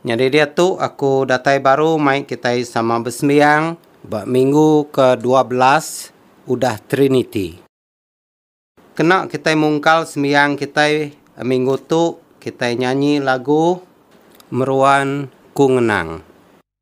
Nyadi diatu aku datai baru mai kitai sama besembiang ba minggu ke dua belas udah Triniti. Kena kitai mungkal sembiang kitai minggu tu kitai nyanyi lagu Meruan Ku Ngenang.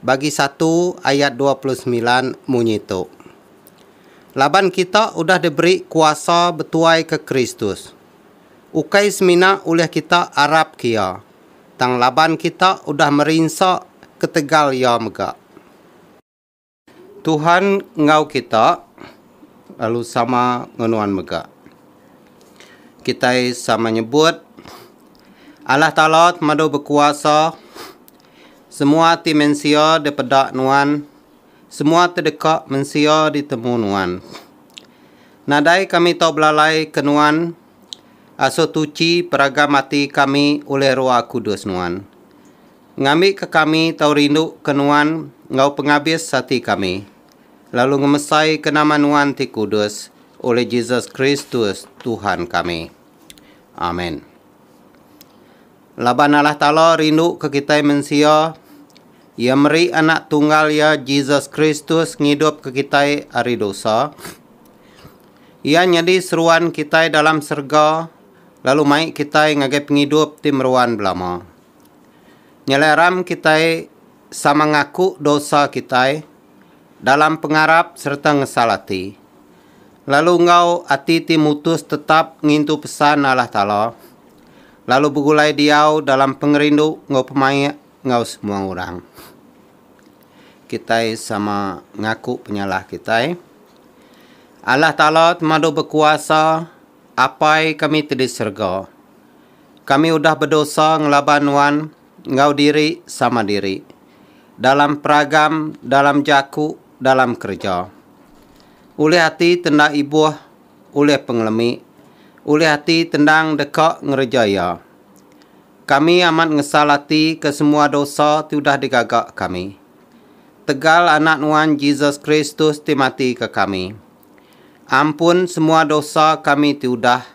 bagi satu ayat dua puluh semilan munyi tu, Laban kita udah diberi kuasa betuaika Kristus, ukai semina ulih kita arapka iya, tang laban kita udah merinsa ketegal iya mega. Tuhan enggau kita, lalu sama enggau nuan mega. Kitai sama nyebut, Allah Taala temadu bekuasa. Semua ti mensia dipeda Nuan, semua ti deka mensia ditemu Nuan. Nadai kami tau belalai ke Nuan, asuh tuchi peragam ati kami ulih Roa Kudus Nuan. Ngambi ke kami tau rindu ke Nuan enggau pengabis ati kami, lalu ngemesai ke nama Nuan ti kudus ulih Jesus Kristus Tuhan kami. Amen. Laban Allah Taala rinduka kitai mensia, Iya meri Anak Tunggal Iya, Jesus Kristus, ngidupka kitai ari dosa. Iya nyadi seruan kitai dalam serega lalu mai kitai ngagai pengidup ti meruan belama. Nyelaram kitai sama ngaku dosa kitai, dalam pengarap sereta ngesal ati, lalu enggau ati ti mutus tetap ngintu pesan Allah Taala, lalu begulai diau dalam pengerindu enggau pemaik enggau semua orang. Kitai sama ngaku penyalah kitai. Allah Taala temadu bekuasa, Apai kami ti di serega. Kami udah bedosa ngelaban Nuan. enggau diri sama diri dalam peragam, dalam jaku, dalam kereja. Ulih ati ti enda ibuh ulih pengelemi, ulih ati ti endang deka ngereja iya. Kami amat ngesal ati ke semua dosa ti udah digaga kami. Tegal Anak Nuan Jesus Kristus ti mati ke kami. Ampun semua dosa kami ti udah.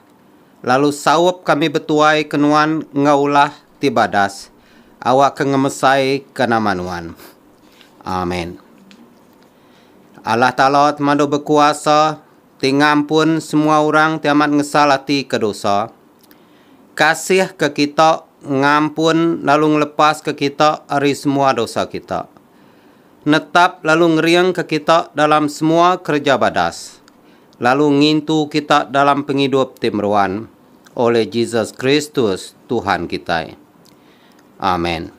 lalu saup kami betuai ke nuan enggau ulah ti badas awakka ngemesai ke nama nuan. Amen. Allah Taala ti mandu bekuasa ti ngampun semua orang ti amat ngesal ati ke dosa. Kasih ke kita ngampun lalu ngelepas ke kita ari semua dosa kita. Netap lalu ngering ke kita dalam semua kereja badas. lalu ngintu kita dalam pengidup ti meruan oleh Jesus Kristus, Tuhan kitai. Amen.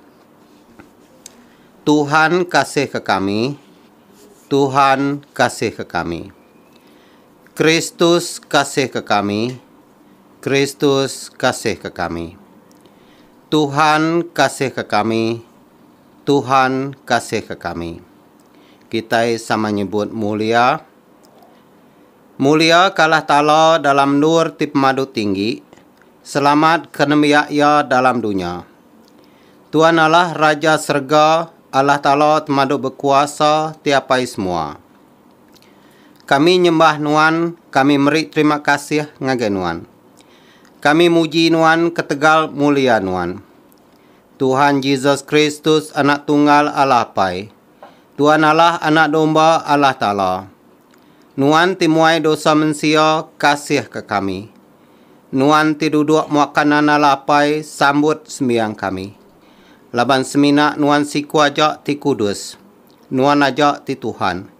Tuhan kasihka kami, Tuhan kasihka kami. Kristus kasihka kami, Kristus kasihka kami. Tuhan kasihka kami, Tuhan kasihka kami. Kitai sama nyebut mulia. Mulia ka Allah Taala dalam endur ti pemadu tinggi, selamat ka nembiak Iya dalam dunya. Tuan Allah Raja serega, Allah Taala temadu bekuasa ti apai semua. Kami nyembah Nuan, kami meri terima kasih ngagai Nuan. Kami muji Nuan ketegal mulia Nuan. Tuhan Jesus Kristus Anak Tunggal Allah Apai. Tuan Allah Anak Domba Allah Taala, Nuan ti muai dosa mensia, kasihka kami. Nuan ti duduk muaka nanda la apai, sambut sembiang kami. Laban semina Nuan siku aja ti kudus. Nuan aja ti Tuhan.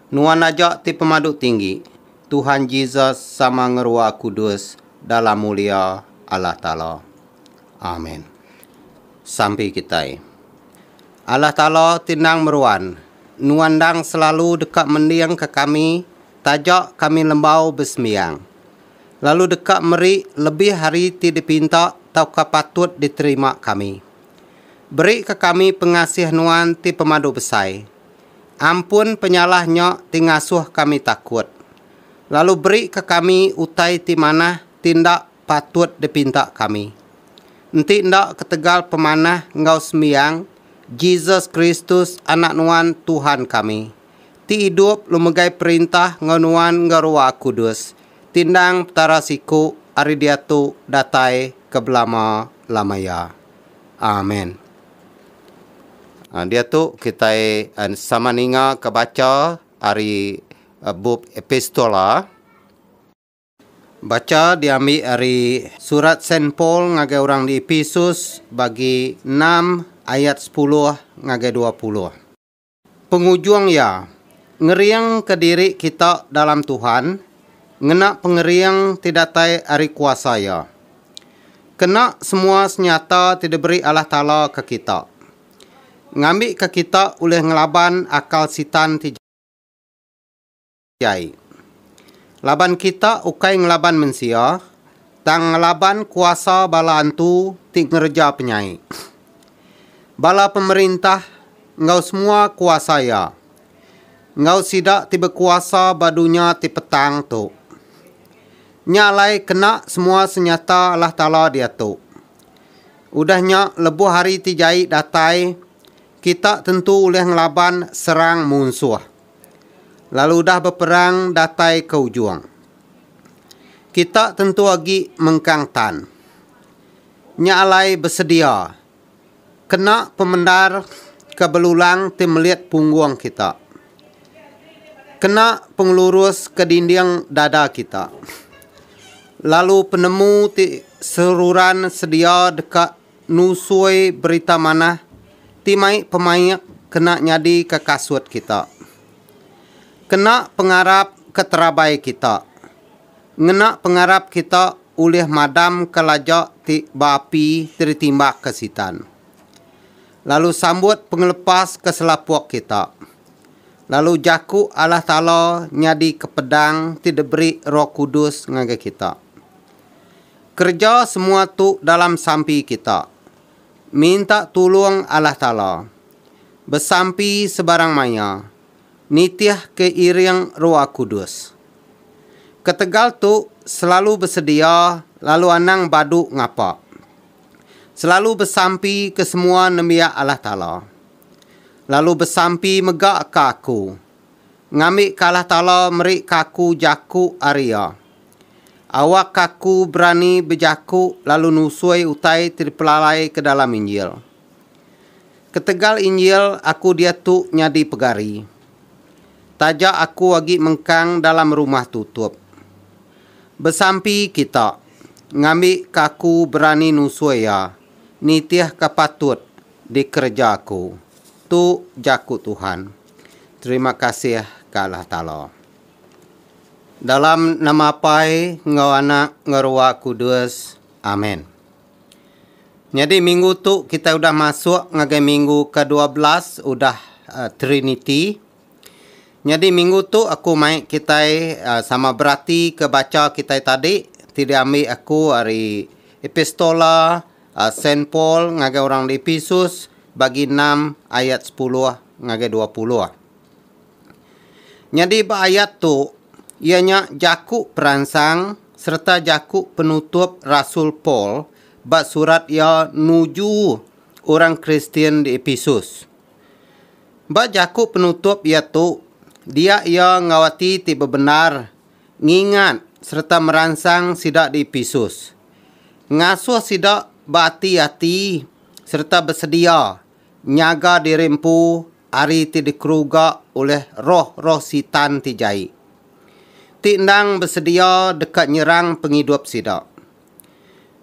Nuan aja ti Pemadu Tinggi, Tuhan Jesus sama ngerua kudus dalam mulia Allah Taala. Amen. Sampi kitai. Allah Taala ti endang meruan, nuan endang selalu deka mending ke kami taja kami lembau besembiang, lalu deka meri lebih ari ti dipinta tauka patut diterima kami. Beri ke kami pengasih nuan ti pemadu besai. Ampun penyalah nya ti ngasuh kami takut. Lalu beri ke kami utai ti manah ti enda patut dipinta kami. Enti enda ketegal pemanah enggau sembiang Jesus Kristus Anak Nuan Tuhan kami, ti idup lu megai perintah enggau nuan enggau Rua Kudus, tindang Petara siku ari diatu datai ke belama-lama iya. Amen. Diatu kitai sama ningaka bacha ari bup Epistola. Bacha diambi ari Surat Saint Paul ngagai orang di Epesus bagi enam ayat sepuluh ngagai dua puluh. Pengujung iya, ngeringka diri kita dalam Tuhan ngena pengering ti datai ari kuasa Iya. Kena semua senyata ti diberi Allah Taala ke kita, ngambika kita ulih ngelaban akal Sitan ti jahat. kitai. Laban kita ukai ngelaban mensia, tang ngelaban kuasa bala antu ti ngereja penyai. Bala pemerintah enggau semua kuasa iya, enggau sida ti bekuasa ba dunya ti petang tu. Nya alai kena semua senyata Allah Taala diatu. Udah nya, lebuh hari ti jai datai, kita tentu ulih ngelaban serang munsuh. lalu udah beperang datai ke ujung. Kita tentu agi mengkang tan. Nya alai besedia kena pemendar ke belulang ti melit punggung kita. Kena pengelurus ke dinding dada kita. Lalu penemu ti seruran sedia deka Nusoi berita manah ti mai pemaik kena nyadika kasut kita. Kena pengarap ke terabai kita. Ngena pengarap kita ulih madamka laja ti ba api ti ditimbakka Sitan. Lalu sambut pengelepas ke selapuk kita. Lalu jaku Allah Taala nyadika pedang ti diberi Roh Kudus ngagai kita. Kereja semua tu dalam sampi kita. Minta tulung Allah Taala. Besampi sebarang maya. Nitih ke iring Roa Kudus. Ketegal tu selalu besedia lalu anang badu ngapa. Selalu besampi ke semua nembiak Allah Taala. Lalu besampi mega ka aku. ngambika Allah Taala meri ka aku jaku ari Iya. Awakka aku berani bejaku lalu nusui utai ti dipelalai ke dalam Injil. Ketegal Injil, aku diatu nyadi pegari. Taja aku agi mengkang dalam rumah tutup. Besampi kita, ngambika aku berani nusui Iya, nitihka patut dikereja aku. Tu jaku Tuhan. Terima kasih ka Allah Taala. Dalam nama Apai enggau Anak enggau Ruah Kudus. Amen. Nyadi minggu tu kitai udah masuk ngagai minggu ke dua belas udah uh, Trinity. Nyadi minggu tu aku mai kitai uh, sama berati ke bacha kitai tadi ti diambi aku ari Epistola Saint Paul ngagai orang di Episus, bagi enam ayat sepuluh ngagai dua puluh. Nyadi ba ayat tu, iya nya jaku peransang sereta jaku penutup rasul Paul ba surat iya nuju orang Kristian di Episus. Ba jaku penutup iya tu, dia iya enggau ati ti bebendar ngingat sereta meransang sida di Epesus. Ngasuh sida beati-ati sereta besedia nyaga diri empu ari ti dikeruga ulih roh-roh Sitan ti jai, ti endang besedia deka nyerang pengidup sida,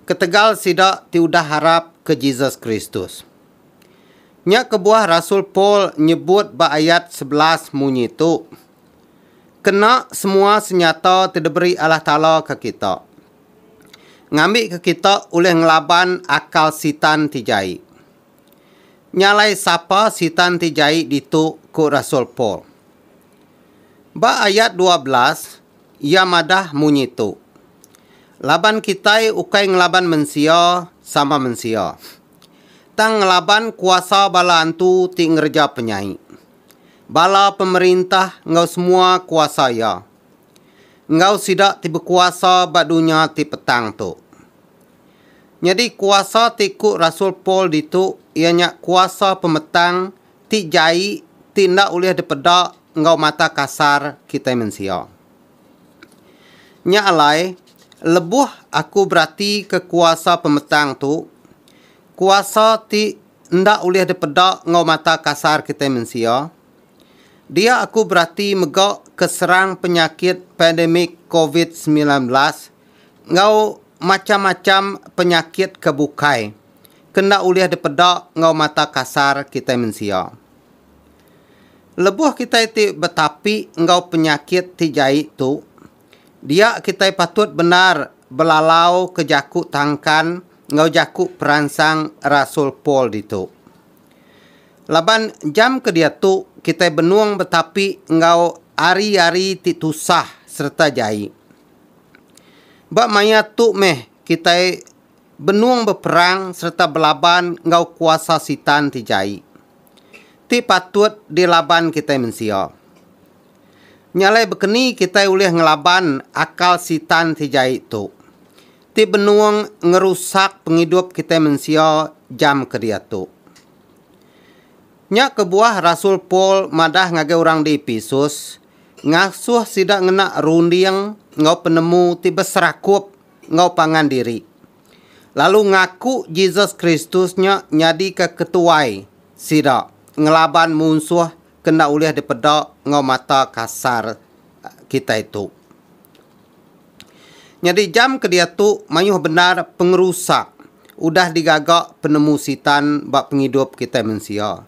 ketegal sida ti udah arap ke Jesus Kristus. Nya kebuah rasul Paul nyebut ba ayat sebelas munyi tu. kena semua senyata ti diberi Allah Taala ke kita. Ngambika kita ulih ngelaban akal Sitan ti jai. Nya alai sapa Sitan ti jai ditu ku rasul Paul. Ba ayat dua belas, iya madah munyi tu, Laban kitai ukai ngelaban mensia sama mensia, tang ngelaban kuasa bala antu ti ngereja penyai. bala pemerintah enggau semua kuasa iya, enggau sida ti bekuasa ba dunya ti petang tu. Nyadi kuasa ti ku rasul Paul ditu iya nya kuasa pemetang ti jai ti enda ulih dipeda enggau mata kasar kitai mensia. Nya alai, lebuh aku beratika kuasa pemetang tu, kuasa ti enda ulih dipeda enggau mata kasar kitai mensia, dia aku berati mega ke serang penyakit pandemik covid semilan belas enggau macham-macham penyakit ke bukai ke enda ulih dipeda enggau mata kasar kitai mensia. Lebuh kitai ti betapi enggau penyakit ti jai tu, Dia kitai patut bendar belalauka jaku tangkan enggau jaku peransang rasul Paul ditu. Laban jam ke diatu kitai benung betapi enggau ari-ari ti tusah sereta jai. Ba maya tu meh kitai benung beperang sereta belaban enggau kuasa Sitan ti jai, ti patut dilaban kitai mensia. Nya alai bekeni kitai ulih ngelaban akal Sitan ti jai tu, ti benung ngerusak pengidup kitai mensia jam ke diatu. Nya kebuah rasul Paul madah ngagai orang di Epesus, ngasuh sida ngena runding enggau penemu ti beserakup enggau pangan diri, lalu ngaku Jesus Kristus nya nyadika ketuai sida ngelaban munsuh ke enda ulih dipeda enggau mata kasar kitai tu. Nyadi jam ke diatu mayuh bendar pengerusak udah digaga penemu Sitan ba pengidup kitai mensia.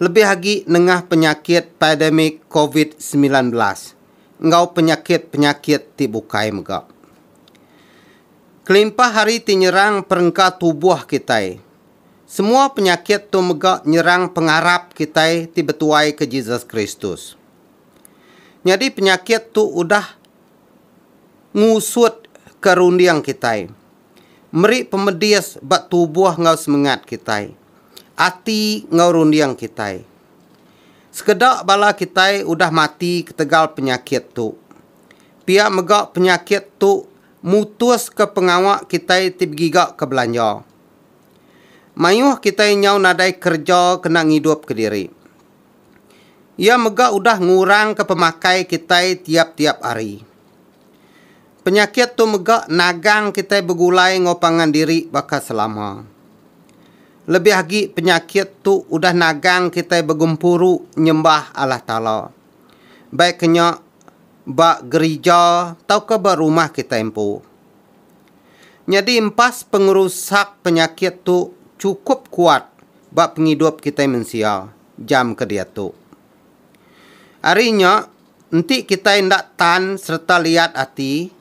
Lebih agi nengah penyakit pandemik covid semilan belas enggau penyakit-penyakit ti bukai mega. Kelimpah ari ti nyerang perengka tubuh kitai. Semua penyakit tu mega nyerang pengarap kitai ti betuai ke Jesus Kristus. Nyadi penyakit tu udah ngusut ke runding kitai, meri pemedis ba tubuh enggau semengat kitai, ati enggau runding kitai. Sekeda bala kitai udah mati ketegal penyakit tu. Pia mega penyakit tu mutuska pengawa kitai ti begiga ke belanja. Mayuh kitai nyau nadai kereja kena ngidupka diri. Iya mega udah ngurangka pemakai kitai tiap-tiap hari. Penyakit tu mega nagang kitai begulai enggau pangan diri baka selama. Lebih agi penyakit tu udah nagang kitai begempuru nyembah Allah Taala, baik ke nya ba gerija tauka ba rumah kitai empu. Nyadi empas pengerusak penyakit tu chukup kuat ba pengidup kitai mensia jam ke diatu. Ari nya, enti kitai enda tan sereta liat ati,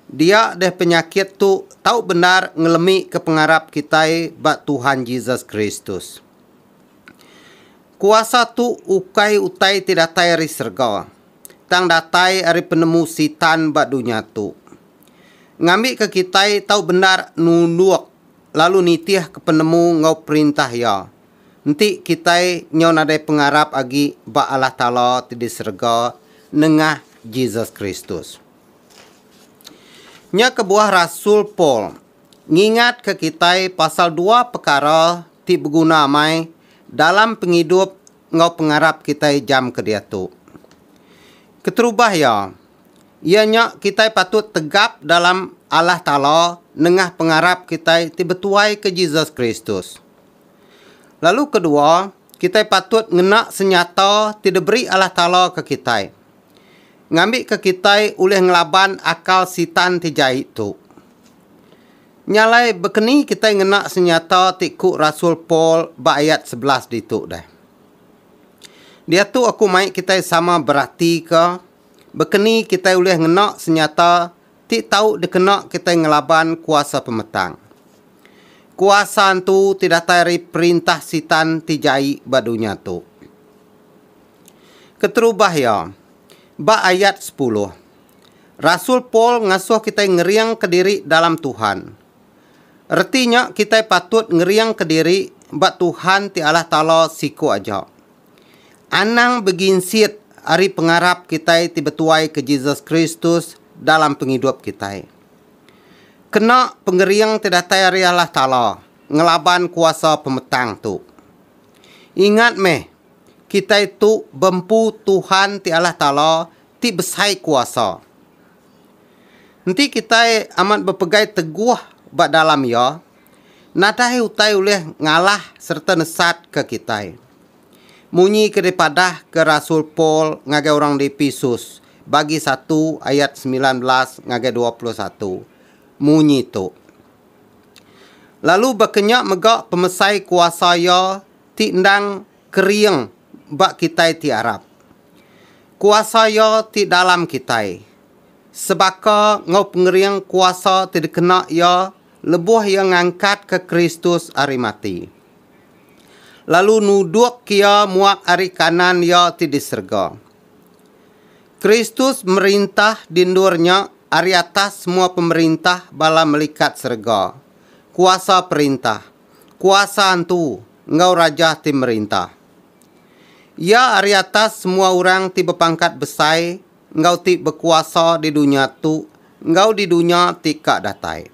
dia deh penyakit tu tau bendar ngelemika pengarap kitai ba Tuhan Jesus Kristus. Kuasa tu ukai utai ti datai ari serega, tang datai ari penemu Sitan ba dunya tu. ngambika kitai tau bendar nulung lalu nitihka penemu enggau Perintah Iya. Enti kitai nyau nadai pengarap agi ba Allah Taala ti di serega nengah Jesus Kristus. Nya kebuah rasul Paul ngingatka kitai pasal dua pekara ti beguna amai dalam pengidup enggau pengarap kitai jam ke diatu. Keterubah iya, Iya nya kitai patut tegap dalam Allah Taala nengah pengarap kitai ti betuai ke Jesus Kristus. Lalu kedua, kitai patut ngena senyata ti diberi Allah Taala ke kitai. Ngambika kitai ulih ngelaban akal Sitan ti jai tu. Nya alai bekeni kitai ngena senyata ti ku rasul Paul ba ayat sebelas ditu deh. Diatu aku mai kitai sama beratika Baka ni kitai ulih ngena senyata ti tau dikena kitai ngelaban kuasa pemetang? Kuasa tu ti datai ari perintah Sitan ti jai ba dunya tu. Keterubah iya, ba ayat sepuluh, rasul Paul ngasuh kitai ngeringka diri dalam Tuhan. Reti nya kitai patut ngeringka diri ba Tuhan ti Allah Taala siku aja. Anang beginsit ari pengarap kitai ti betuai ke Jesus Kristus dalam pengidup kitai. Kena pengering ti datai ari Allah Taala ngelaban kuasa pemetang tu. Ingat meh, kitai tu bempu Tuhan ti Allah Taala ti besai kuasa. Enti kitai amat bepegai teguh ba dalam Iya, Nadai utai ulih ngalah sereta nesatka kitai. Munyi ke dipadahka rasul Paul ngagai orang di Epesus, bagi satu ayat semilan belas ngagai dua puluh satu, munyi tu, Lalu baka nya mega pemesai kuasa iya ti endang kering ba kitai ti arap. Kuasa iya ti dalam kitai, sebaka enggau pengering kuasa ti dikena iya Lebuh iya ngangkatka Kristus ari mati, lalu nudukka iya muak ari kanan Iya ti di serega. Kristus merintah di endur nya ari atas semua pemerintah bala melikat serega, kuasa perintah, kuasa antu, enggau rajah ti merintah. Iya ari atas semua orang ti bepangkat besai, enggau ti bekuasa di dunya tu enggau di dunya ti ka datai.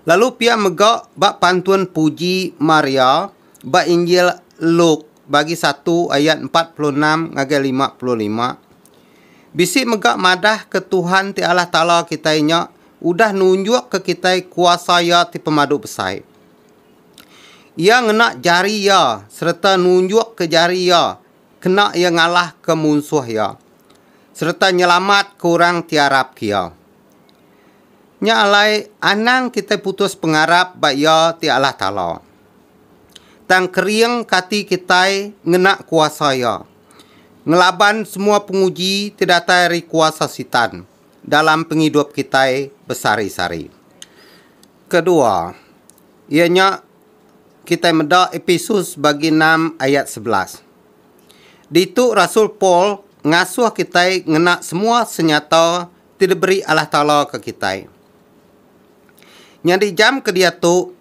Lalu pia mega ba pantun puji Maria ba Injil Luke bagi satu ayat empat puluh enam ngagai lima puluh lima, bisi mega madahka Tuhan ti Allah Taala kitai nya udah nunjukka kitai kuasa Iya ti pemadu besai. Iya ngena jari Iya sereta nunjukka jari Iya kena iya ngalahka munsuh iya sereta nyelamatka orang ti arapka iya. Nya alai, anang kitai putus pengarap ba Iya ti Allah Taala. Tang keringka ati kitai ngena kuasa Iya, ngelaban semua penguji ti datai ari kuasa Sitan dalam pengidup kitai besari-sari. Kedua, iya nya Kitai meda Epesus bagi enam ayat sebelas. Ditu rasul Paul ngasuh kitai ngena semua senyata ti diberi Allah Taala ke kitai. Nyadi jam ke diatu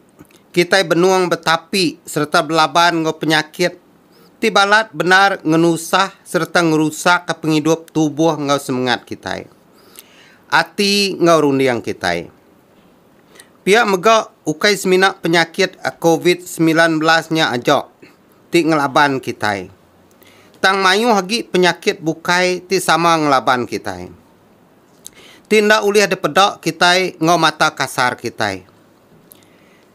kitai benung betapi sereta belaban enggau penyakit ti balat bendar ngenusah sereta ngerusakka pengidup tubuh enggau semengat kitai, ati enggau runding kitai. Pia mega ukai semina penyakit covid semilan belas nya aja ti ngelaban kitai, tang mayuh agi penyakit bukai ti sama ngelaban kitai, ti enda ulih dipeda kitai enggau mata kasar kitai.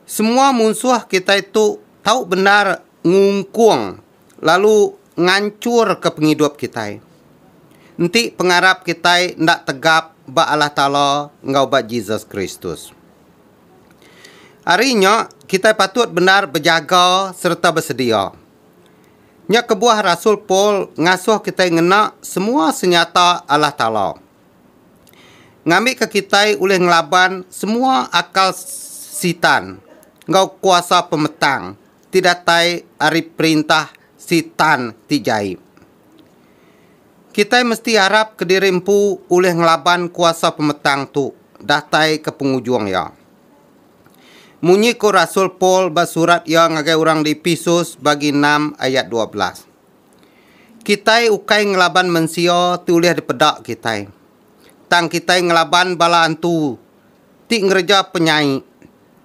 Semua munsuh kitai tu tau bendar ngungkung lalu nganchurka pengidup kitai. Enti pengarap kitai enda tegap ba Allah Taala enggau ba Jesus Kristus. Ari nya, kitai patut bendar bejaga sereta besedia. Nya kebuah rasul Paul ngasuh kitai ngena semua senyata Allah Taala. Ngambika kitai ulih ngelaban semua akal Sitan enggau kuasa pemetang. ti datai ari perintah Sitan ti jai. Kitai mesti arap kediri empu ulih ngelaban kuasa pemetang tu datai ke pengujung iya. Munyi ku rasul Paul ba surat iya ngagai orang di Epesus bagi enam ayat dua belas, Kitai ukai ngelaban mensia ti ulih dipeda kitai, tang kitai ngelaban bala antu ti ngereja penyai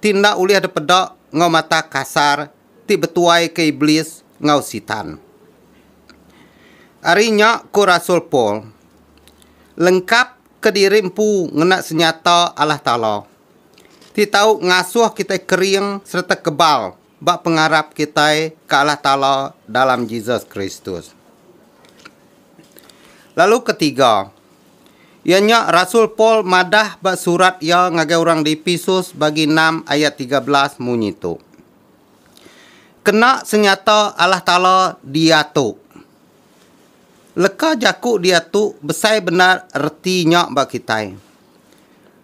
ti enda ulih dipeda enggau mata kasar ti betuaika Iblis enggau Sitan. Ari nya ku rasul Paul, Lengkapka diri empu ngena senyata Allah Taala, ti tau ngasuh kitai kering sereta kebal ba pengarap kitai ke Allah Taala dalam Jesus Kristus. Lalu ke tiga, iya nya rasul Paul madah ba surat iya ngagai orang di Epesus bagi enam ayat tiga belas munyi tu, Kena senyata Allah Taala diatu. Leka jaku diatu besai bendar reti nya ba kitai.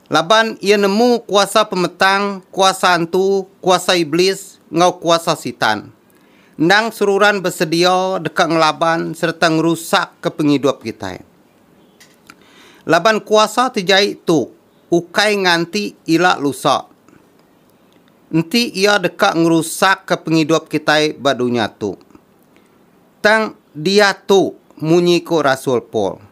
Laban iya nemu kuasa pemetang, kuasa antu, kuasa Iblis, enggau kuasa Sitan. Endang seruran besedia deka ngelaban sereta ngerusakka pengidup kitai. Laban kuasa ti jai tu ukai nganti ila lusa. Enti iya deka ngerusakka pengidup kitai ba dunya tu. Tang diatu munyi ku rasul Paul.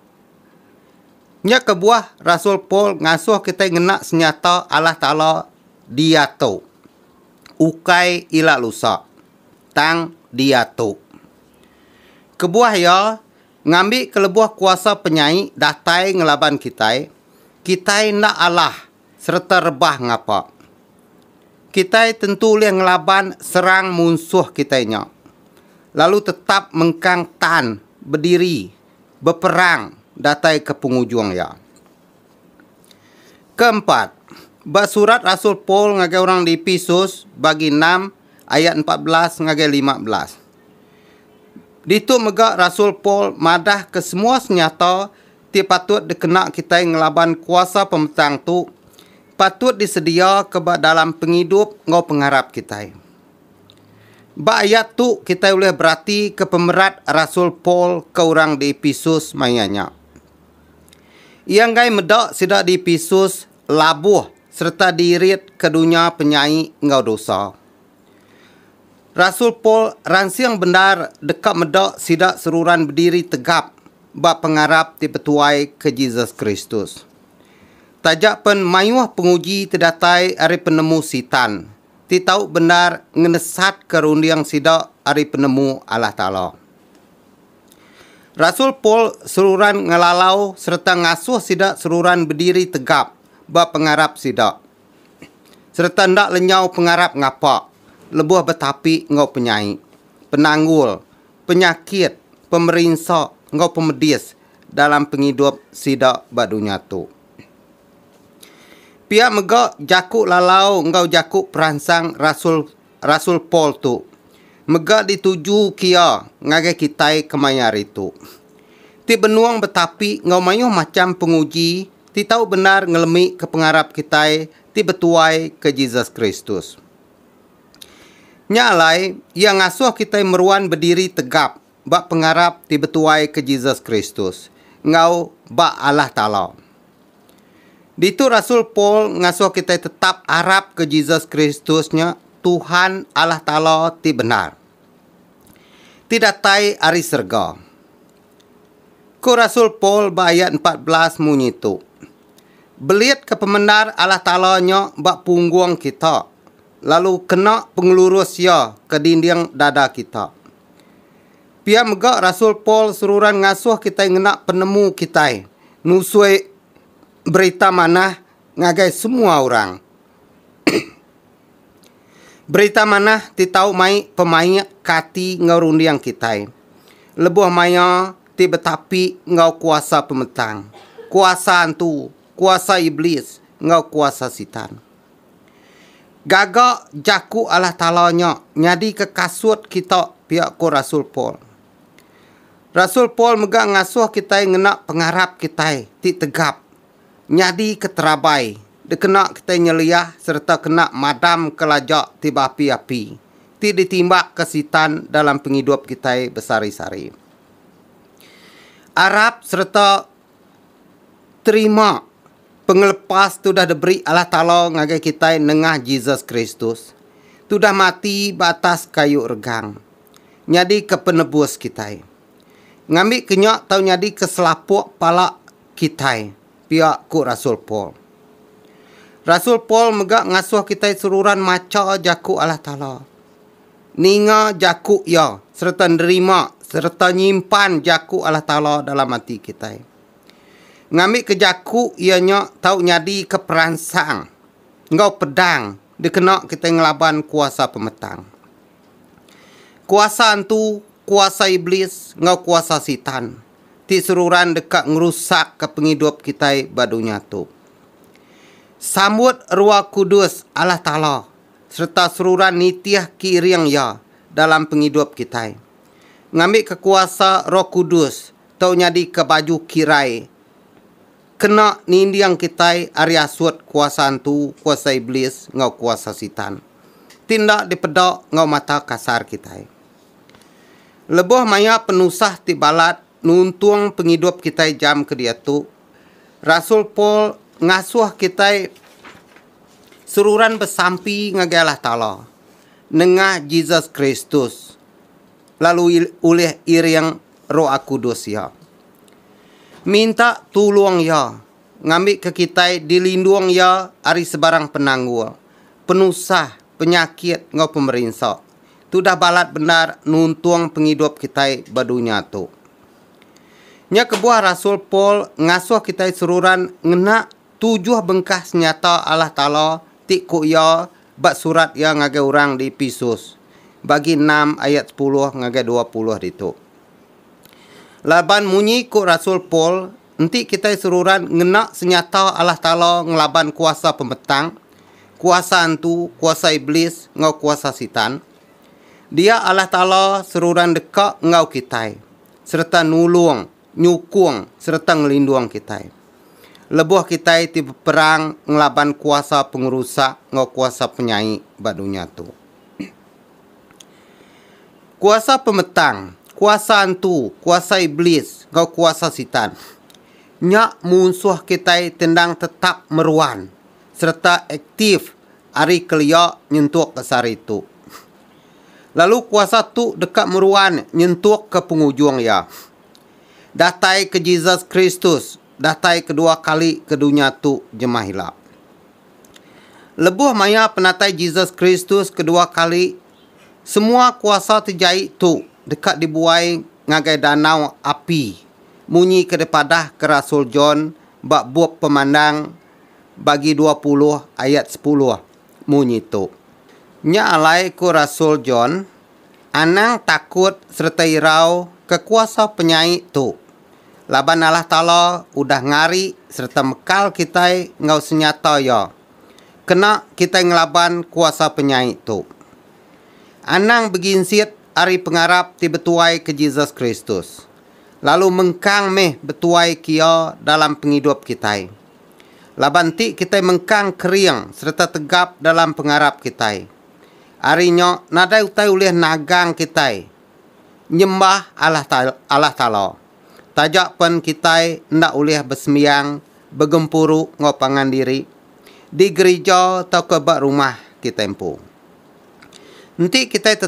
Nya kebuah rasul Paul ngasuh kitai ngena senyata Allah Taala diatu, ukai ila lusa, tang diatu. Kebuah iya, ngambi kelebuh kuasa penyai datai ngelaban kitai, kitai enda alah sereta rebah ngapa. Kitai tentu ulih ngelaban serang munsuh kitai nya, lalu tetap mengkang tan bediri beperang datai ke pengujung iya. Keempat, ba surat rasul Paul ngagai orang di Epesus bagi enam ayat empat belas ngagai lima belas. Ditu mega rasul Paul madah ke semua senyata ti patut dikena kitai ngelaban kuasa pemetang tu patut disedia ke ba dalam pengidup enggau pengarap kitai. Ba ayat tu kitai ulih beratika pemerat rasul Paul ke orang di Epesus maya nya. Iya enggai meda sida di Epesus labuh sereta diirit ke dunya penyai enggau dosa. Rasul Paul ransing bendar deka meda sida seruran bediri tegap ba pengarap ti betuai ke Jesus Kristus. Taja pen mayuh penguji ti datai ari penemu Sitan, ti tau bendar ngenesatka runding sida ari penemu Allah Taala. Rasul Paul seruran ngelalau sereta ngasuh sida seruran bediri tegap ba pengarap sida sereta enda lenyau pengarap ngapa lebuh betapi enggau penyai, penanggul, penyakit, pemerinsa enggau pemedis dalam pengidup sida ba dunya tu. Pia mega jaku lalau enggau jaku peransang rasul rasul Paul tu mega dituju kia ngagai kitai kemaya hari tu. Ti benung betapi enggau mayuh macham penguji ti tau bendar ngelemika pengarap kitai ti betuai ke Jesus Kristus. Nya alai iya ngasuh kitai meruan bediri tegap ba pengarap ti betuaika Jesus Kristus enggau ba Allah Taala. Ditu rasul Paul ngasuh kitai tetap arapka Jesus Kristus nya Tuhan Allah Taala ti bendar, ti datai ari serega. Ku rasul Paul ba ayat empat belas munyi tu, Belitka pemendar Allah Taala nya ba punggung kita, lalu kena pengelurus Iya ke dinding dada kita. Pia mega rasul Paul seruran ngasuh kitai ngena penemu kitai nusui Berita Manah ngagai semua orang. Berita Manah ti tau mai pemaik ke ati enggau runding kitai. Lebuh maya ti betapi enggau kuasa pemetang, kuasa antu, kuasa Iblis enggau kuasa Sitan. Gaga jaku Allah Taala nya nyadika kasut kita, pia ku rasul Paul. Rasul Paul mega ngasuh kitai ngena pengarap kitai ti tegap nyadi keterabai dikena kitai nyeliah sereta kena madamka laja ti beapi-api ti ditimbakka Sitan dalam pengidup kitai besehari-sehari. Arap sereta terima pengelepas ti udah diberi Allah Taala ngagai kitai nengah Jesus Kristus ti udah mati ba atas kayu regang nyadika penebus kitai. Ngambika nya tau nyadika selapuk pala kitai, pia ku rasul Paul. Rasul Paul mega ngasuh kitai seruran macha Jaku Allah Taala. ninga jaku Iya sereta nerima sereta nyimpan jaku Allah Taala dalam ati kitai. Ngambika jaku Iya nya tau nyadika peransang enggau pedang dikena kitai ngelaban kuasa pemetang. Kuasa entu kuasa Iblis enggau kuasa Sitan ti seruran deka ngerusakka pengidup kitai ba dunya tu. Sambut Ruah Kudus Allah Taala sereta seruran nitih ke iring iya dalam pengidup kitai. Ngambika kuasa Roh Kudus tau nyadika baju kirai kena ninding kitai ari asut kuasa antu, kuasa iblis enggau kuasa sitan ti enda dipeda enggau mata kasar kitai. Lebuh maya penusah ti balat nuntung pengidup kitai jam ke diatu, Rasul Paul ngasuh kitai seruran besampi ngagai Allah Taala nengah Jesus Kristus lalu ulih iring Roh Kudus iya. Minta tulung iya ngambika kitai dilindung iya ari sebarang penanggul, penusah, penyakit enggau pemerinsa. Tu udah balat bendar nuntung pengidup kitai ba dunya tu. Nya kebuah rasul Paul ngasuh kitai seruran ngena tujuh bengkah senyata Allah Taala ti ku iya ba surat iya ngagai orang di Epesus, bagi enam ayat sepuluh ngagai dua puluh ditu. Laban munyi ku rasul Paul, enti kitai seruran ngena senyata Allah Taala ngelaban kuasa pemetang, kuasa antu, kuasa iblis enggau kuasa Sitan, Dia Allah Taala seruran deka enggau kitai sereta nulung, nyukung sereta ngelindung kitai lebuh kitai ti beperang ngelaban kuasa pengerusak enggau kuasa penyai ba dunya tu. Kuasa pemetang, kuasa antu, kuasa iblis enggau kuasa sitan. Nya munsuh kitai ti endang tetap meruan. sereta aktif ari kelia nyentukka sehari tu. Lalu kuasa tu deka meruan nyentukka pengujung iya. Datai ke Jesus Kristus datai kedua kali ke dunya tu jemah ila. Lebuh maya penatai Jesus Kristus kedua kali, semua kuasa ti jai tu deka dibuai ngagai danau api, munyi ke dipadahka rasul John ba bup Pemandang bagi dua puluh ayat sepuluh munyi tu, Nya alai ku rasul John, Anang takut sereta irau ke kuasa penyai tu, laban Allah Taala udah ngari sereta mekal kitai enggau senyata Iya kena kitai ngelaban kuasa penyai tu. Anang beginsit ari pengarap ti betuai ke Jesus Kristus. lalu mengkang meh betuai kia dalam pengidup kitai. Laban ti kitai mengkang kering sereta tegap dalam pengarap kitai. Ari nya nadai utai ulih nagang kitai nyembah Allah Taala. Taja pen kitai enda ulih besembiang, begempuru enggau pangan diri di gerija tauka ba rumah kitai empu. Enti kitai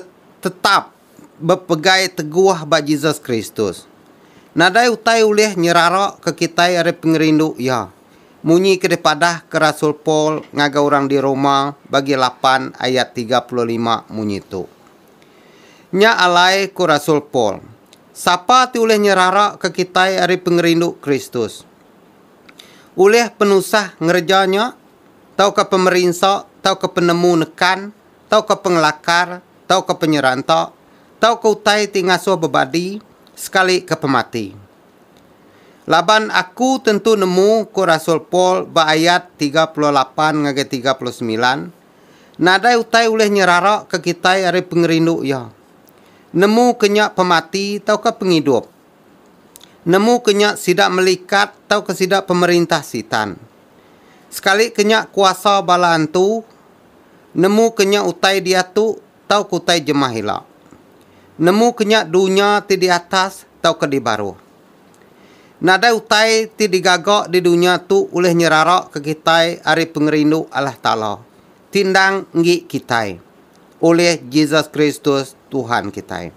tetap. bepegai teguh ba Jesus Kristus. Nadai utai ulih nyeraraka kitai ari pengerindu iya. Munyi ke dipadahka rasul Paul ngagai orang di Roma bagi lapan ayat tiga puluh lima munyi tu. Nya alai ku rasul Paul, Sapa ti ulih nyeraraka kitai ari pengerindu Kristus? Ulih penusah ngereja nya, tauka pemerinsa, tauka penemu nekan, tauka pengelakar tauka penyeranta tauka utai ti ngasuh bebadi sekalika pemati. Laban aku tentu nemu ku rasul Paul ba ayat tiga puluh lapan ngagai tiga puluh semilan, nadai utai ulih nyeraraka kitai ari pengerindu iya. Nemuka nya pemati tauka pengidup. Nemuka nya sida melikat tauka sida pemerintah Sitan. Sekalika nya kuasa bala antu, Nemu ke nya utai diatu tauka utai jemah ila. Nemu ke nya dunya ti di atas tauka di baruh. Nadai utai ti digaga di dunya tu ulih nyeraraka kitai ari pengerindu Allah Taala ti endang enggi kitai ulih Jesus Kristus Tuhan kitai.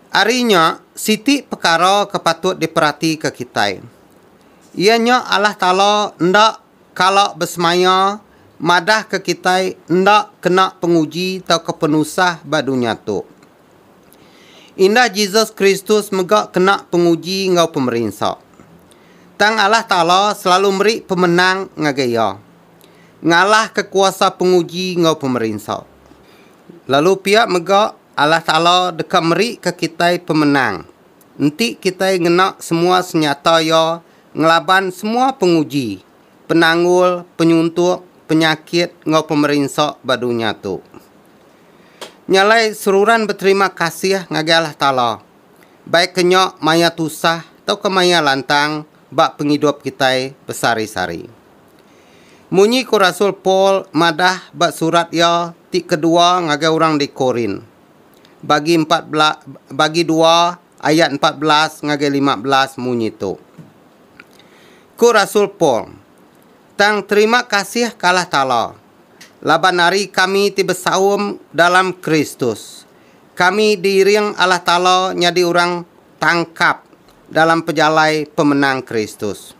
Ari nya, siti pekara ke patut diperatika kitai iya nya Allah Taala enda kala besemaya madahka kitai enda kena penguji tauka penusah ba dunya tu. Indah Jesus Kristus mega kena penguji enggau pemerinsa. Tang Allah Taala selalu meri pemenang ngagai iya, ngalahka kuasa penguji enggau pemerinsa. Lalu pia mega Allah Taala deka merika kitai pemenang Enti kitai ngena semua senyata iya ngelaban semua penguji, penanggul, penyuntuk, penyakit enggau pemerinsa ba dunya tu. Nya alai seruran beterima kasih ngagai Allah Taala, baik ke nya maya tusah tauka maya lantang ba pengidup kitai besehari-sehari. Munyi ku rasul Paul madah ba surat iya ti kedua ngagai orang di Korint, bagi empat belas bagi dua ayat empat belas ngagai lima belas munyi tu. Ku Rasul Paul, Tang terima kasih ka Allah Taala, laban ari kami ti besaum dalam Kristus, kami diiring Allah Taala nyadi orang tangkap dalam pejalai pemenang Kristus.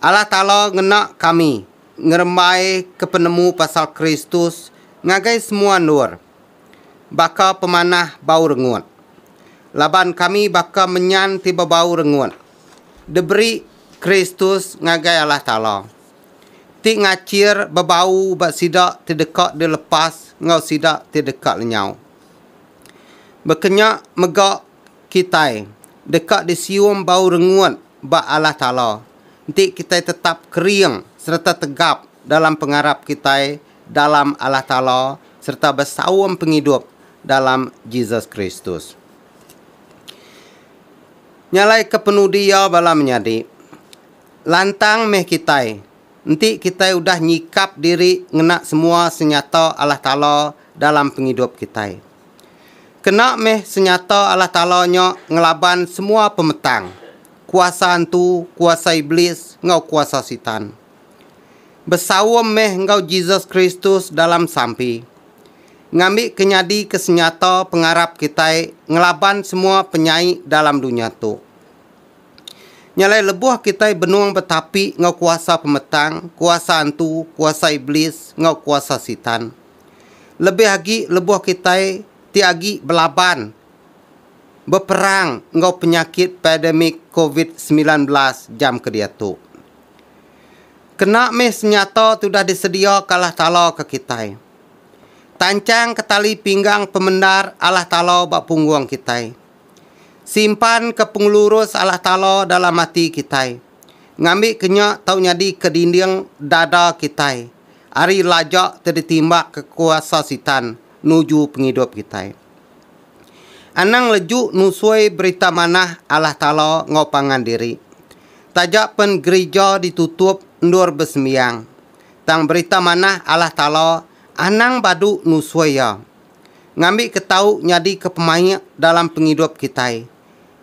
Allah Taala ngena kami ngerembai ke penemu pasal Kristus ngagai semua endur, baka pemanah bau rengut. Laban kami baka menyan ti bebau rengut diberi Kristus ngagai Allah Taala, ti ngachir bebau ba sida ti deka dilepas enggau sida ti deka lenyau. Baka nya mega kitai deka disium bau rengut ba Allah Taala enti kitai tetap kering sereta tegap dalam pengarap kitai dalam Allah Taala sereta besaum pengidup dalam Jesus Kristus. Nyalaika penudi iya bala menyadi, lantang meh kitai enti kitai udah nyikap diri ngena semua senyata Allah Taala dalam pengidup kitai. Kena meh senyata Allah Taala nya ngelaban semua pemetang, kuasa antu, kuasa iblis enggau kuasa Sitan. Besaum meh enggau Jesus Kristus dalam sampi. Ngambi ke nyadi ke senyata pengarap kitai ngelaban semua penyai dalam dunya tu. Nya alai lebuh kitai benung betapi enggau kuasa pemetang, kuasa antu, kuasa iblis enggau kuasa sitan. Lebih agi lebuh kitai ti agi belaban beperang enggau penyakit pademik covid semilan belas jam ke diatu. Kena mih senyata ti udah disedia ke Allah Taala ke kitai. Tanchang ke tali pinggang pemendar Allah Taala ba punggung kitai. Simpan ke pengelurus Allah Taala dalam ati kitai. Ngambi ke nya tau nyadi ke dinding dada kitai ari laja ti ditimbak ke kuasa sitan nuju pengidup kitai. Anang leju nusui berita manah Allah Taala enggau pangan diri. Taja pen gerija ditutup endur besembiang, tang Berita Manah Allah Taala anang badu nusui iya. Ngambika tau nyadika pemaik dalam pengidup kitai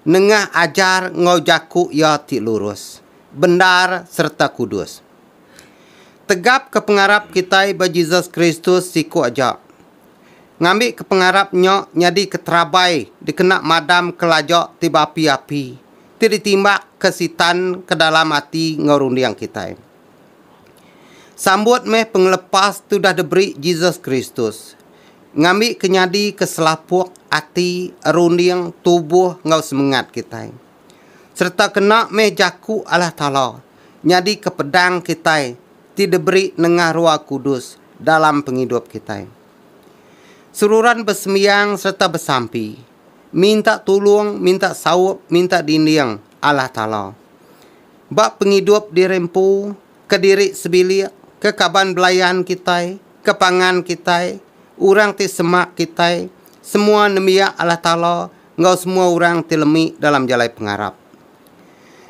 nengah ajar enggau jaku Iya ti lurus, bendar sereta kudus. Tegapka pengarap kitai ba Jesus Kristus siku aja. Ngambika pengarap nya nyadika terabai dikena madamka laja ti beapi-api. ti ditimbakka Sitan ke dalam ati enggau runding kitai. Sambut meh pengelepas ti udah diberi Jesus Kristus, ngambika nyadi ke selapuk ati, runding, tubuh enggau semengat kitai. Sereta kena meh jaku Allah Taala nyadika pedang kitai ti diberi nengah Roh Kudus dalam pengidup kitai. Seruran besembiang sereta besampi, minta tulung, minta saup, minta dinding Allah Taala. Ba pengidup diri empu, kediri sebilik, ke kaban belayan kitai, ke pangan kitai, orang ti semak kitai, semua nembiak Allah Taala enggau semua orang ti lemi dalam jalai pengarap.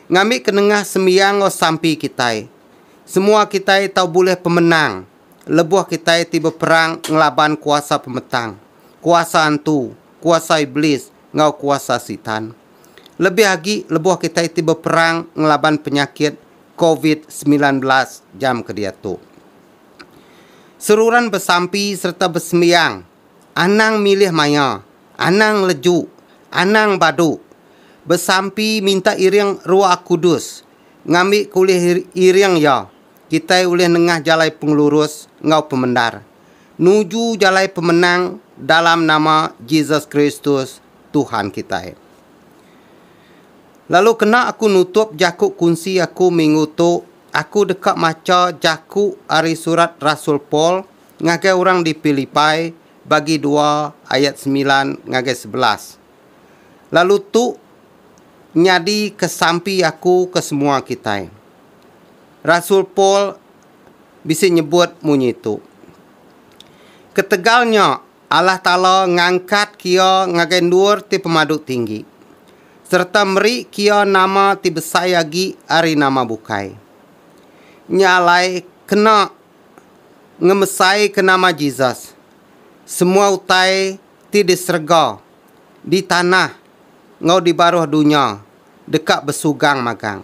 Ngambika nengah sembiang enggau sampi kitai, semua kitai tau bulih pemenang lebuh kitai ti beperang ngelaban kuasa pemetang. kuasa antu, kuasa iblis, enggau kuasa Sitan. Lebih agi lebuh kitai ti beperang ngelaban penyakit Covid semilan belas jam ke diatu. Seruran besampi sereta besembiang, anang milih maya, anang ngeleju, anang badu, besampi minta iring Roh Kudus ngambika ulih iring iya. kitai ulih nengah jalai pengelurus enggau pemendar, nuju jalai pemenang dalam nama Jesus Kristus, Tuhan kitai. Lalu kena aku nutup jaku kunsi aku minggu tu, aku deka macha jaku ari surat rasul Paul ngagai orang di Pilipai bagi dua ayat semilan ngagai sebelas. Lalu tu nyadi ke sampi aku ke semua kitai. Rasul Paul bisi nyebut munyi tu, Ketegal nya, Allah Taala ngangkat Kia ngagai endur ti pemadu tinggi, sereta meri Kia nama ti besai agi ari nama bukai. Nya alai kena ngemesaika nama Jesus, semua utai ti di serega, di tanah, enggau di baruh dunya deka besugang magang.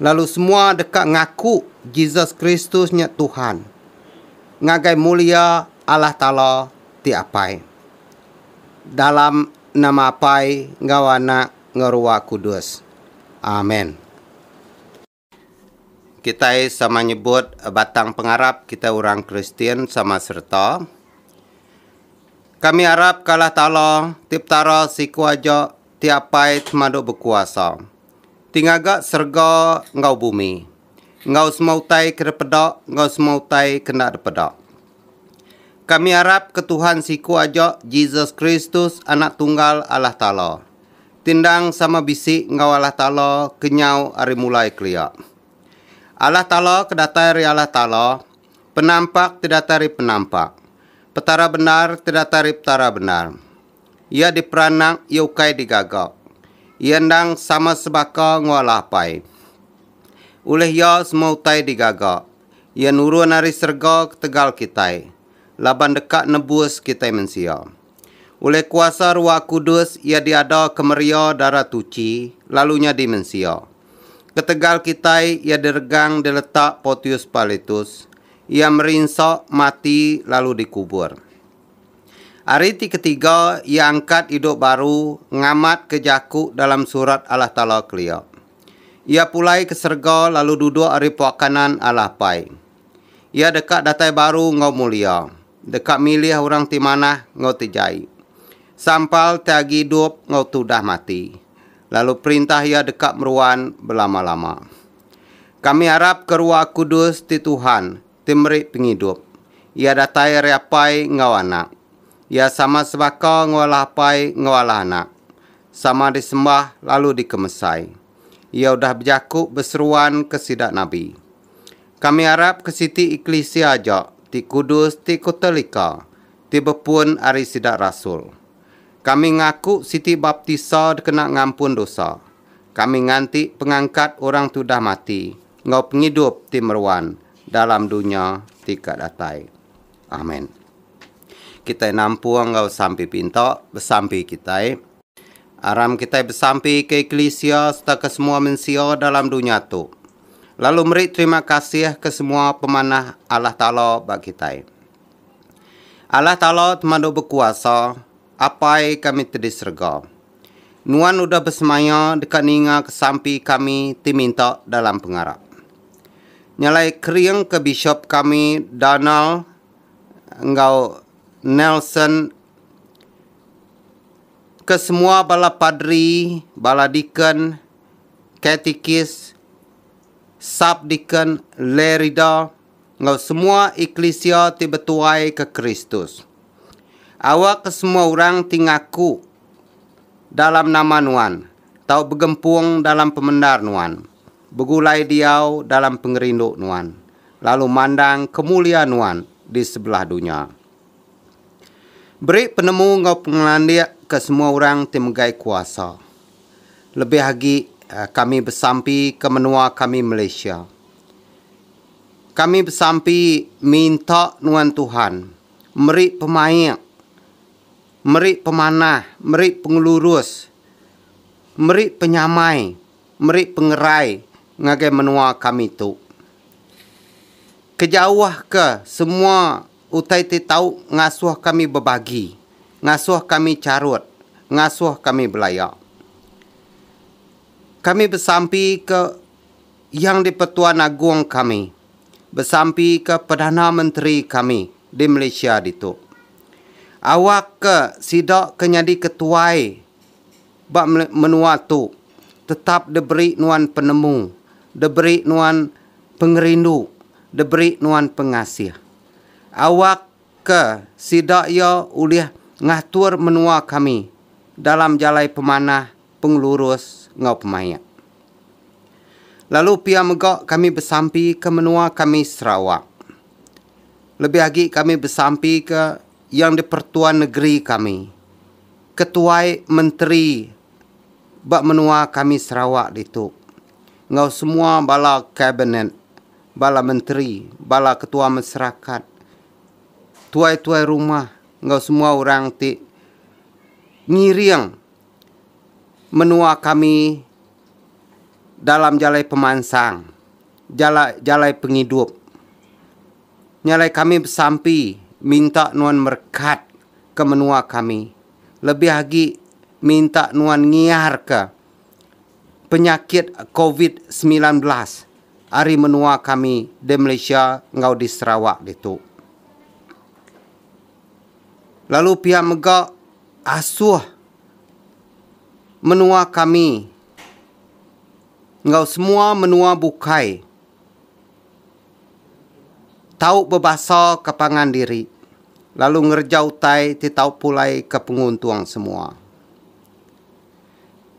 Lalu semua deka ngaku Jesus Kristus nya Tuhan ngagai mulia Allah Taala ti Apai. Dalam nama Apai enggau Anak enggau Ruah Kudus. Amen. Kitai sama nyebut batang pengarap kitai orang Kristian sama sereta. Kami arap ke Allah Taala ti Petara siku aja ti apai semadu bekuasa ti ngaga serega enggau bumi enggau semua utai ke dipeda enggau semua utai ke enda dipeda. Kami arap ke Tuhan siku aja Jesus Kristus Anak Tunggal Allah Taala. Ti endang sama bisi enggau Allah Taala ke nyau ari mulai kelia. Allah Taala ke datai ari Allah Taala, penampak ti datai ari penampak, Petara bendar ti datai ari Petara bendar. Iya diperanak, iya ukai digaga. Iya endang sama sebaka enggau Allah Apai. Ulih Iya semua utai digaga. Iya nurun ari serega ketegal kitai, laban deka nebus kitai mensia. Ulih kuasa Ruah Kudus iya diada kemeria darah tuchi lalu nyadi mensia. Ketegal kitai iya diregang diletak Portius Pilatus, iya merinsa, mati lalu dikubur. Ari ti ketiga iya angkat idup baru ngamat ke jaku dalam surat Allah Taala kelia. Iya pulai ke serega lalu duduk ari pua kanan Allah Apai. Iya deka datai baru enggau mulia, deka milih orang ti manah enggau ti jai, sampal ti agi idup enggau ti udah mati, lalu perintah Iya deka meruan belama-lama. Kami arapka Ruah Kudus ti Tuhan, ti meri pengidup. Iya datai ari Apai enggau Anak. Iya sama sebaka enggau Allah Apai enggau Allah Anak, sama disembah lalu dikemesai. Iya udah bejaku beseruan ke sida nabi. Kami arap ke siti eklisia aja ti kudus ti kotelika ti bepun ari sida rasul. Kami ngaku siti baptisa dikena ngampun dosa. Kami nganti pengangkat orang ti udah mati enggau pengidup ti meruan dalam dunya ti ka datai. Amen. Kitai nampung enggau sampi pinta besampi kitai. Aram kitai besampi ke eklisia sereta ke semua mensia dalam dunya tu, lalu meri terima kasih ke semua pemanah Allah Taala ba kitai. Allah Taala temadu bekuasa, Apai kami ti di serega. Nuan udah besemaya deka ninga ke sampi kami ti minta dalam pengarap. Nya alai kering ke bishop kami Donald enggau Nelson ke semua bala padri, bala deacon, katikis, sub-deacon, lay reader, enggau semua eklisia ti betuai ke Kristus. Awak ke semua orang ti ngaku dalam nama nuan tau begempung dalam pemendar nuan, begulai diau dalam pengerindu nuan, lalu mandang kemulia nuan di sebelah dunya. Beri penemu enggau pengelandik ke semua orang ti megai kuasa. Lebih agi kami besampi ke menua kami Malaysia. Kami besampi minta nuan Tuhan meri pemaik, meri pemanah, meri pengelurus, meri penyamai, meri pengerai ngagai menua kami tu. Kejauhka semua. Utai ti tau ngasuh kami bebagi, ngasuh kami charut, ngasuh kami belaya. Kami besampika Yang di-Pertuan Agong kami, besampika Perdana Menteri kami di Malaysia ditu. Awakka sida ke nyadi ketuai. ba menua tu tetap deberi nuan penemu, deberi nuan pengerindu, deberi nuan pengasih. Awak ke sida iya ulih ngatur menua kami dalam jalai pemanah, pengelurus enggau pemaik. Lalu pia mega kami besampi ke menua kami Sarawak. Lebih agi kami besampi ke Yang di-Pertua Negeri kami. Ketuai Menteri ba menua kami Sarawak ditu enggau semua bala kabinet, bala menteri, bala ketua masarakat, tuai-tuai rumah enggau semua orang ti ngiring menua kami dalam jalai pemansang, jalai pengidup. Nya alai kami besampi minta nuan merekat. ke menua kami, lebih agi minta nuan ngiarka penyakit covid semilan belas ari menua kami di Malaysia enggau di Sarawak ditu. Lalu pia mega asuh menua kami enggau semua menua bukai. tau bebasaka pangan diri lalu ngereja utai ti tau pulaika penguntung semua.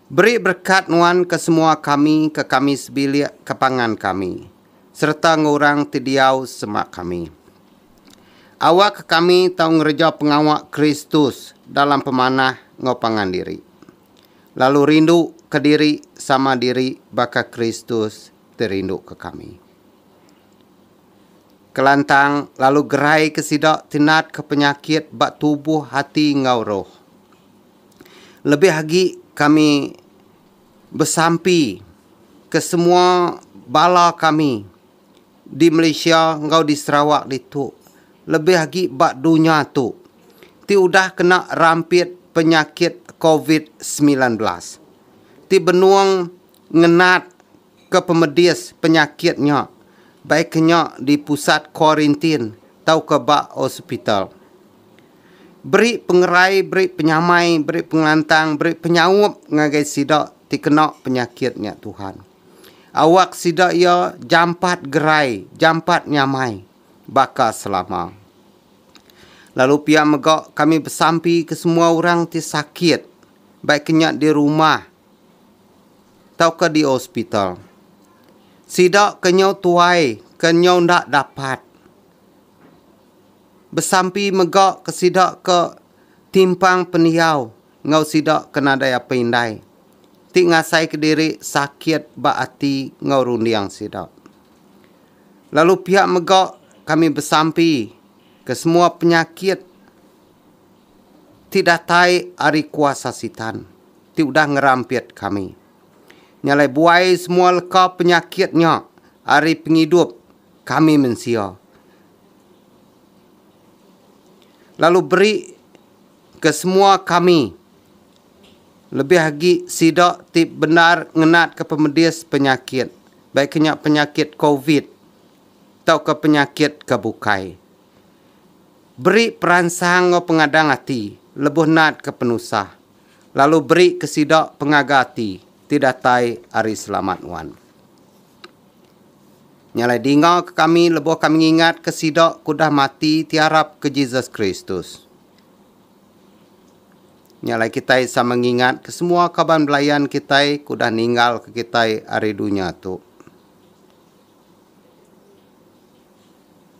Beri berekat nuan ke semua kami ke kami sebilik ke pangan kami sereta enggau orang ti diau sema kami. Awakka kami tau ngereja pengawa Kristus dalam pemanah enggau pangan diri, lalu rindu kediri sama diri baka Kristus ti rinduka kami. Kelantang lalu geraika sida ti natka penyakit ba tubuh, ati enggau roh. Lebih agi kami besampi ke semua bala kami di Malaysia enggau di Sarawak ditu lebih agi ba dunya tu ti udah kena rampit penyakit covid semilan belas ti benung Ngenat ke pemedis penyakit nya baik nya di pusat kuarintin tauka ba hospital. Beri pengerai, beri penyamai, beri pengelantang, beri penyaup ngagai sida ti kena penyakit nya Tuhan. Awak sida iya jampat gerai, jampat nyamai baka selama. Lalu pia mega kami besampi ke semua orang ti sakit baik nya di rumah, tauka di hospital. Sida ke nyau tuai ke nyau enda dapat besampi mega ke sida ke timpang pendiau enggau sida ke nadai apai indai ti ngasai kediri sakit ba ati enggau runding sida. Lalu pia mega kami besampi ke semua penyakit. Ti datai ari kuasa Sitan ti udah ngerampit kami. Nya alai buai semua leka penyakit nya ari pengidup kami mensia lalu beri ke semua kami lebih agi sida ti bendar ngenatka pemedis penyakit baik ke nya penyakit covid tauka penyakit ke bukai. Beri peransang enggau pengadang ati lebuh natka penusah, lalu beri ke sida pengaga ati ti datai ari Selamat nuan. Nya alai dinga ke kami lebuh kami ngingatka sida ke udah mati ti arap ke Jesus Kristus. Nya alai kitai sama ngingatka semua kaban belayan kitai ke udah ninggalka kitai ari dunya tu.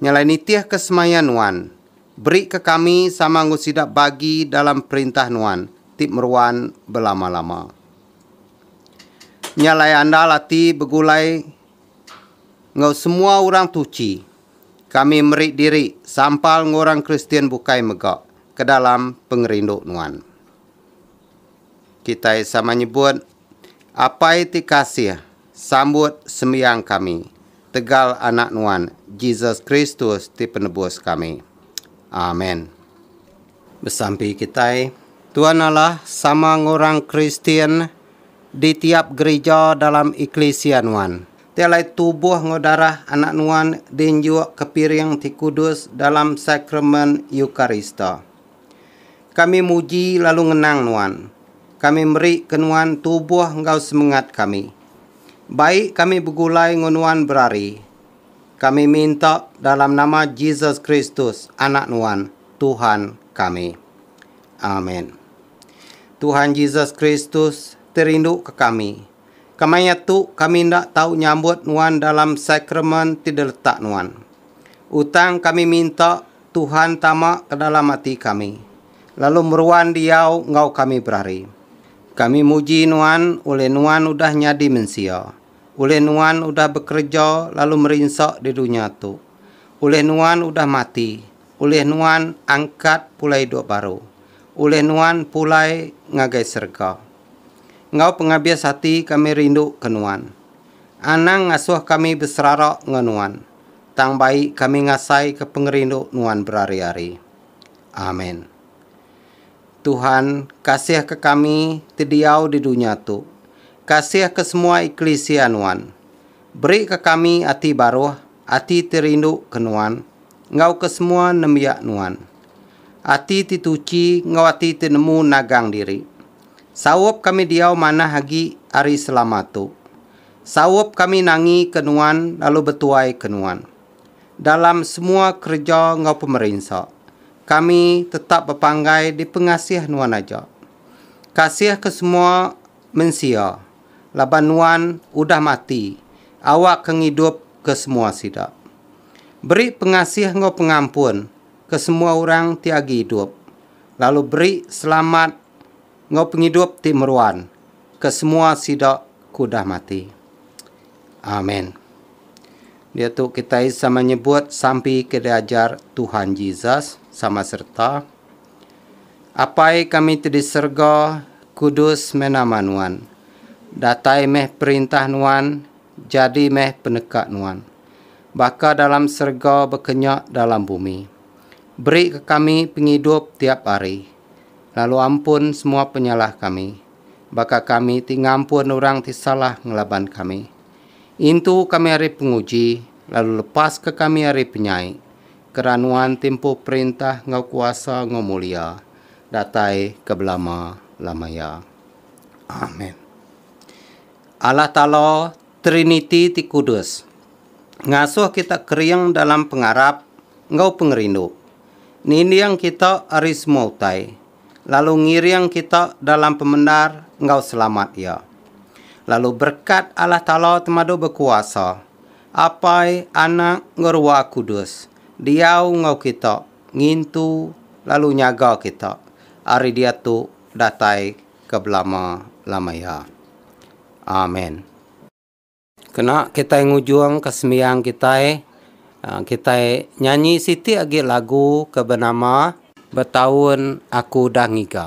Ngelai nitihka semaya nuan, berika kami sama enggau sida bagi dalam perintah nuan ti meruan belama-lama. Nya alai andal ati begulai enggau semua orang tuchi, kami meri diri sampal enggau orang Kristian bukai mega ke dalam pengerindu nuan. Kitai sama nyebut Apai ti kasih Sambut sembiang kami tegal Anak Nuan, Jesus Kristus ti Penebus kami. Amen. Besampi kitai. Tuan Allah sama enggau orang Kristian di tiap gerija dalam eklisia Nuan. Ti alai tubuh enggau darah Anak Nuan diinjukka piring ti kudus dalam Sakramen Eukarista. Kami muji lalu ngenang Nuan. Kami meri ke Nuan tubuh enggau semengat kami. Baik kami begulai enggau Nuan berari. Kami minta dalam nama Jesus Kristus, Anak Nuan, Tuhan kami. Amen. Tuhan Jesus Kristus ti rindu ke kami. Kemaya tu kami enda tau nyambut Nuan dalam sakramen ti diletak Nuan. Utang kami minta Tuhan tama ke dalam ati kami, lalu meruan diau enggau kami berari. Kami muji Nuan ulih Nuan udah nyadi mensia, ulih Nuan udah bekereja lalu merinsa di dunya tu, ulih Nuan udah mati, ulih Nuan angkat pulai idup baru, ulih Nuan pulai ngagai serega. Enggau pengabis ati kami rinduka Nuan. Anang ngasuh kami beserara enggau Nuan. Tang bai kami ngasaika pengerindu nuan berari-ari. Amen. Tuhan, kasihka kami ti diau di dunya tu. Kasihka semua eklisia nuan. Berika kami ati baruh, ati ti rinduka nuan, enggau ke semua nembiak nuan. Ati ti tuchi enggau ati ti nemu nagang diri. Saup kami diau manah agi ari selama tu. Saup kami nangi ke nuan lalu betuai ke nuan. Dalam semua kereja enggau pemerinsa, kami tetap bepanggai dipengasih nuan aja. Kasih ke semua mensia, laban nuan udah mati awakka ngidup ke semua sida. Beri pengasih enggau pengampun ke semua orang ti agi idup, lalu beri selamat. Enggau pengidup ti meruan ke semua sida ke udah mati. Amen. Diatu kitai sama nyebut sampi ke diajar Tuhan Jesus sama sereta, Apai kami ti di serega, kudus meh nama Nuan. Datai meh perintah Nuan, jadi meh peneka Nuan. Baka dalam serega baka nya dalam bumi. Beri ke kami pengidup tiap hari. Lalu ampun semua penyalah kami, baka kami ti ngampun orang ti salah ngelaban kami. Intu kami ari penguji, lalu lepaska kami ari penyai, kera Nuan ti empu perintah enggau kuasa enggau mulia, datai ke belama-lama iya. Amen. Allah Taala Triniti ti kudus ngasuh kita kering dalam pengarap enggau pengerindu, ninding kita ari semua utai, lalu ngiring kita dalam pemendar enggau selamat Iya. Lalu berekat Allah Taala Temadu Bekuasa, Apai, Anak, enggau Ruah Kudus diau enggau kita ngintu lalu nyaga kita ari diatu datai ke belama-lama iya. Amen. Kena kitai ngujungka sembiang kitai, kitai nyanyi siti agi lagu ke benama. Betaun aku udah ngiga.